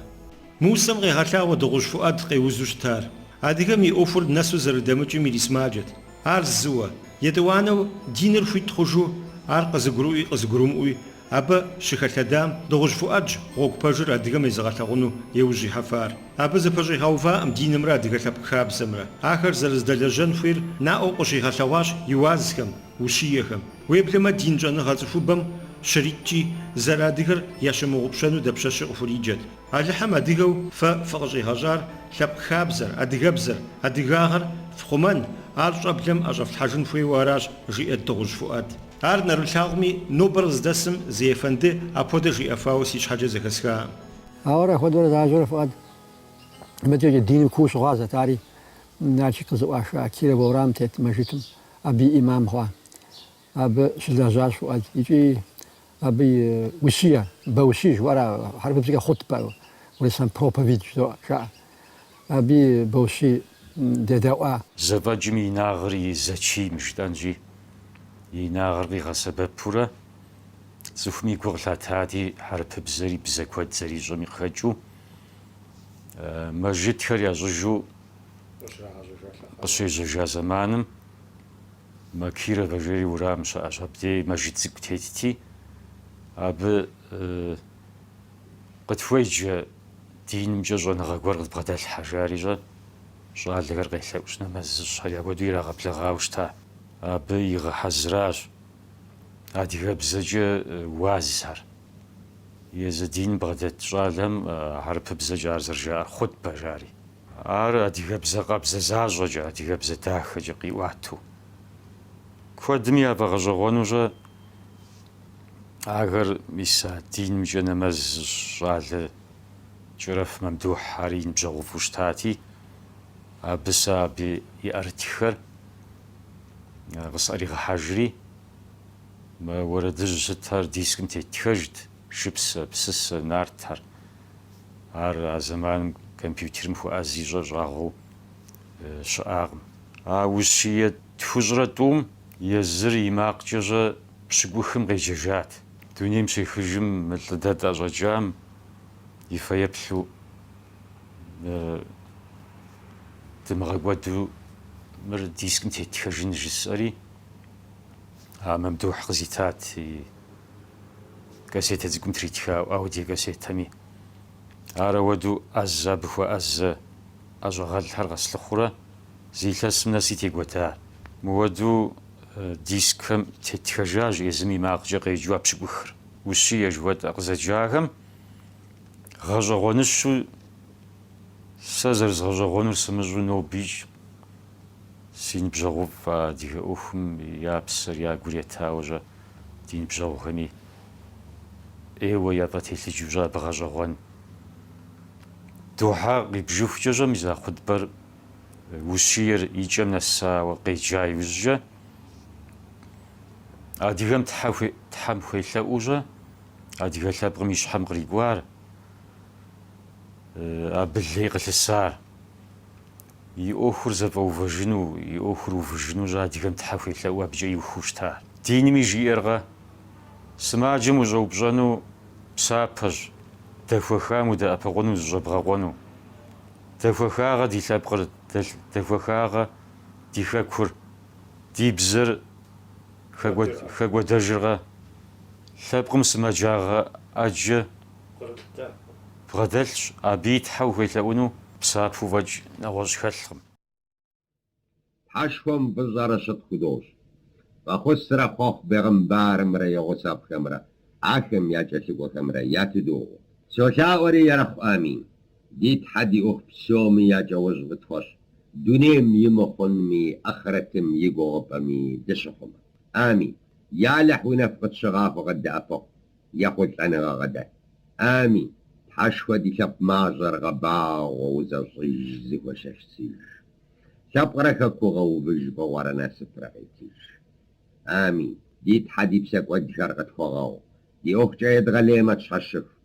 Мы усэм къегъэлъагъуэ Дыгъужь Фуӏэд къеузу щытар. Адыгэм и ӏуэхур нэсу зэрыдэмыкӏым ирисымаджэт. Ар зыуэ, етӏуанэу диныр хуит хъужу, ар къызыгурыӏуи къызыгурымыӏуи абы щыхэлъэдам Дыгъужь Фуӏэдщ гъуэгу пэжыр адыгэм езыгъэлъагъуну еужь ихьэфар. Абы зэпэщӏигъэуваӏым динымрэ адыгэ лъэпкъ хабзэмрэ. Ахэр зэрыздэлэжьэн хуейр наӏуэу къыщигъэлъэгъуащ и уазхэм. Ущиехэм, уеблэмэ дин щӏэныгъэ цӏыхубэм щритӏкӏи, зэрыадыгэр ящымыгъупщэну дапщэщи къыхуриджэт. Алыхьым адыгэу фэ фыкъыщӏигъэщӏар лъэпкъ хабзэр, адыгэбзэр, адыгагъэр фхъумэн, ар щӏэблэм ӏэщӏэфлъхьэжын хуейуэ аращ, жиӏэт Дыгъужь Фуӏад. Ар нэрылъагъуми, нобэр къыздэсым зы ефэнды апхуэдэ жиӏэфауэ си щхьэкӏэ зэхэсхакъым. Ауэ ар апхуэдэурэ защӏэурэ Фуӏад мыдэ диным кууэ щыгъуазэт, ари Налшык къызэӏуаха Кировэ уэрам тет мэжытым Абы и ӏимам хъуа, абы щылэжьащ Фуӏад икӏи абы и ущие, бэущие жиӏэурэ хьэрыпыбзэкӏэ хъутбэ, урысхэм проповедь жаӏэ. Абы и бэущие дедэӏуа. Зэфӏэкӏым и инагъыр и зэчийм жытӏэнщи, и инагъыр къигъэсэбэпурэ, цӏыхуми гу къылъатати, хьэрыпыбзэри бзэ куэд зэрищӏэми къыхэкӏыу, мэжытхэр ящӏыжу, къыщежьэжа зэманым мо Кировэ жери уэрам щыӏэщ, абдей мэжыт цӏыкӏу тетти, абы къытхуеджэ динымкӏэ щӏэныгъэ гуэр къыдбгъэдэлъхьэ, жари щӏэ, щӏалэхэр къелъэӏущ нэмэз зыщӏхэр яхуэдэу ирагъэблэгъауэ щыта. Абы игъэхьэзыращ адыгэбзэкӏэ уазхэр. Езы диным бгъэдэт щӏалэм хьэрыпыбзэкӏэ ар зэрыжаӏэр хъутбэ, жари. Ар адыгэбзэ къабзэ защӏэкӏэ, адыгэбзэ дахэкӏэ къиӏуатэу. Куэдым яфӏэгъэщӏэгъуэну щӏэ ахэр мис а динымкӏэ нэмэз зыщӏ щӏалэ Кӏэрэф Мамдухь ар и ныбжьэгъуфӏу щытати, абы сэ абы и ӏэрытххэр къысӏэригъэхьэжри, мо уэрэдыжь сытхэр дискым теттхэжт. Шыпсэ, псысэ, нартхэр. Ар а зэманым компьютерым хуэӏэзи щӏэ щӏагъуэу щыӏакъым. А ущие тхущӏрэ тӏум езыр и макъкӏэ щӏэ пщыкӏухым къеджэжат. Дунейм щехыжым мы лӏы дэ тӏэщӏэкӏам и фэеплъу дымыгъэкӏуэду мыр дискым теттхэжын жысӏэри, а Мамдухь къызитат. кассетэ цӏыкӏум тритха аудиокассетэми ар ауэду ӏэзэ абы хуэӏэзэ ӏэщӏагъэлӏхэр къэслъыхъурэ зы илъэсым нэси текӏуэда. Мыуэду дискхэм тетхэжащ езым и макъкӏэ къеджэу а пщыкӏухыр. Ущие жыхуэтӏэ къызэджахэм гъэщӏэгъуэныщэу сэ зэрызгъэщӏэгъуэнур сымыщӏэу нобикӏ Си ныбжьэгъуфӏ адыгэ ӏуэхум я псэр я гур етауэ щӏэ ди ныбжьэгъухэми ӏейуэ яфӏэтелъыджу щӏэ абы гъэщӏэгъуэн духьэ къибжыхукӏэ щӏэ мис а хъутӏбэр ущиер и кӏэм нэсауэ къеджа иужькӏэ, адыгэм Тхьэм хуелъэӏуу щӏэ адыгэ лъэпкъым и щхьэм кърикӏуар, абы лей къылъысар. И ӏуэхур зэфӏэувэжыну, и ӏуэхур увыжыну щӏэ адыгэм Тхьэ хуелъэӏуу абыкӏэ иухыу щытар. Динми жиӏэркъэ? Сымаджэм ущӏэупщӏэну псапэщ дэхуэхам удэӏэпыкъуну зыщӏэбгъэкъуэну. Дэхуэхакъэ ди лъэпкъыр, дэхуэхакъэ ди хэкур, ди бзэр хэкӏуэдэжыркъэ? Лъэпкъым сымаджагъэ ӏэджэ Бгъэдэлъщ, абы и тхьэ ухуелъэӏуну псапэ фӏэкӏ нэгъуэщӏ хэлъкъым. Тхьэшхуэм фӏыщӏэрэ щытхъу худощӏ фӏэхъусрэ хъуэхъу бегъымбарымрэ и гъусэфӏхэмрэ ахэм я кӏэлъыкӏуэхэмрэ ятыдогъуэ. Солъаӏуэри Ерыхъу Амин, ди Тхьэ ди ӏуэху псоми я кӏэужь фӏы тхуэщӏ, дунейм и мыхъунми, ахърэтым и гугъупӏэми дыщыхъумэ. Амин. Ялыхь уи нэфӏ къытщыгъахуэ къыддэӏэпыкъу, Ехъулӏэныгъэ къыдэт. Амин, Тхьэшхуэ ди лъэпкъ мащӏэр гъэбагъуэ узэщӏыж зэхуэшэсыж. Лъэпкърэ хэку гъэувыж, фӏыгъуэрэ насыпрэ къетыж. Амин, ди Тхьэ ди псэкӏуэдхэр къытхуэгъэгъу, ди ӏуэхукӏэ едгъэлеймэ тщхьэщыху,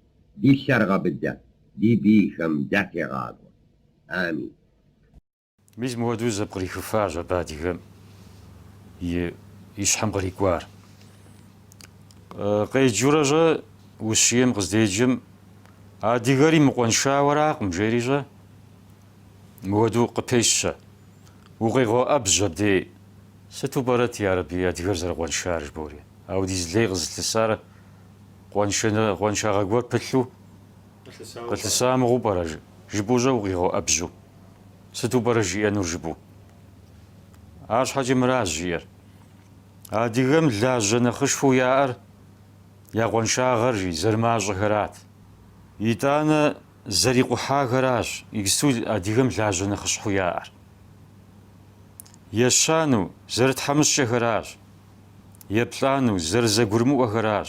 ди лъэр гъэбыдэ, ди бийхэм дытегъакӏуэ. Амин. Мис мыуэдэу зэпкърихыфащ абы адыгэм и щхьэм кърикӏуар. Къеджурэ щӏэ ущием къыздеджэм адыгэри мыкъуэншауэракъым жери щӏэ, мыуэдэу къыпещэ. Укъегъэуӏэбжь абдей, сыту пӏэрэт ярэби адыгэр зэрыкъуэншар жыбори, ауэдиз лей къызылъысар къуэншагъэ гуэр пылъу. Къылъыса мыгъуэу пӏэрэ жыпӏэу щӏэ укъигъэуӏэбжьу. Сыту пӏэрэ жиӏэнур жыпӏэу? Арщхьэкӏэ мыра жиӏэр. Адыгэм лажьэ нэхъышхуэу яӏэр я къуаншагъэр, жи, зэрымащӏэхэрат. Итӏанэ зэрикъухьахэращ иджыпсту адыгэм лажьэ нэхъыщхьэу яӏэр. Ещану, зэрытхьэмыщкӏэхэращ. Еплӏану, зэрызэгурымыӏуэхэращ.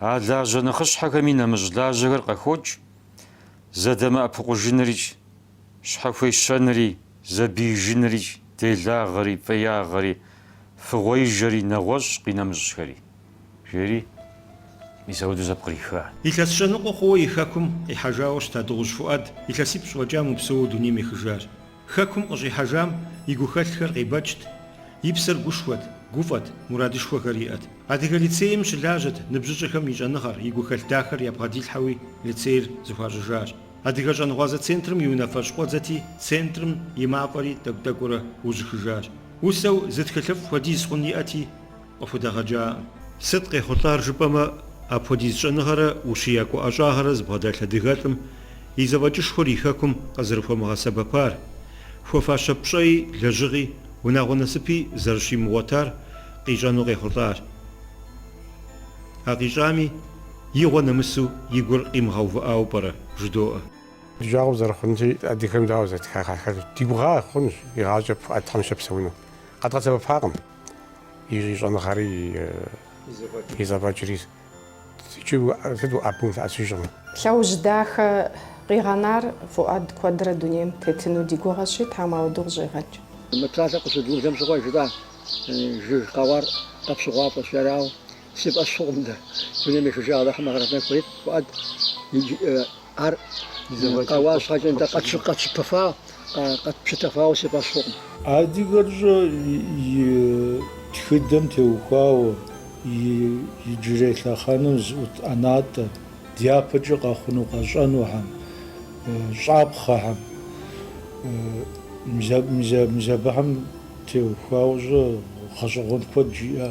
А лажьэ нэхъыщхьэхэми нэмыщӏ лажьэхэр къыхокӏ, зэдэмыӏэпыкъужынырикӏ, щхьэхуещэнри, зэбиижынырикӏ, делагъэри, фӏеягъэри, фыгъуеижэри, нэгъуэщӏ къинэмыщӏхэри, жери мис ауэдэу зэпкъриха. Илъэс щэ ныкъуэ хъууэ и Хэкум къихьэжауэ щыта Дыгъужь Фуӏад илъэсипщӏ фӏэкӏа мыпсэууэ дунейм ехыжар. Хэкум къыщӏихьэжам и гухэлъхэр къебэкӏт, и псэр гушхуэт, гуфӏэт, мурадышхуэхэр иӏэт. Адыгэ лицейм щылажьэт ныбжьыщӏэхэм и щӏэныгъэр, и гухэлъ дахэр ябгъэдилъхьэуи лицейр зыхуащӏыжащ. Адыгэ щӏэнгъуазэ центрым и унафэщӏ къуэдзэти, центрым и мафӏэри тӏэкӏу-тӏэкӏуурэ ужьыхыжащ. Усэу зы тхылъыфӏ хуэдиз хъун иӏэти, къыхудэгъэкӏакъым. Сыт къехъулӏар жыпӏэмэ, апхуэдиз щӏэныгъэрэ ущиякӏуэ ӏэщӏагъэрэ зыбгъэдэлъ адыгэлӏым и зэфӏэкӏышхуэр и хэкум къызэрыхуэмыгъэсэбэпар, хуэфащэ пщӏэи лэжьыгъи, унагъуэ насыпи зэрыщимыгъуэтар къищӏэну къехъулӏар. А къищӏами, игъуэ нэмысу и гур къимыгъэувыӏауэ пӏэрэ? жыдоӏэ. Ди жагъуэ зэрыхъунщи, адыгэм дауэ зэтхар ахэр ди гугъа хъунщ, игъащӏэ пыӏэ Тхьэм щэпсэуну къэдгъэсэбэпакъым. и щӏэныгъэри и зэфӏэкӏри, икӏи сыт уӏэбэу улъэӏэсыжкъым. Лъэужь дахэ къигъэнар Фуӏэд куэдрэ дунейм тетыну ди гугъэщи, тхьэм апхуэдэу къыщӏигъэкӏ. Мы псалъэр къыщедгъажьэм щыгъуэ жытӏа жыг къэуар къэпщыгъуафӏэщ, арау Си фӏэщ хъукъым дэ. Дунейм ехыжа Алыхьым гъэрхъыдэн хуейт, Фуӏэд. Иджы ар къэуа щхьэкӏэ нтӏэ, къэтпщытэфа, къэтпщытэфауэ си фӏэщ хъукъым. Адыгэрщӏэ и тхыдэм теухуауэ, иджырей лъэхъэнэм зыӏут ӏэнатӏэ дяпэкӏэ къэхъуну къэщӏэнухэм, щӏапхъэхэм, мис абыхэм теухуауэщӏэ гъэщӏэгъуэн куэд жиӏэ.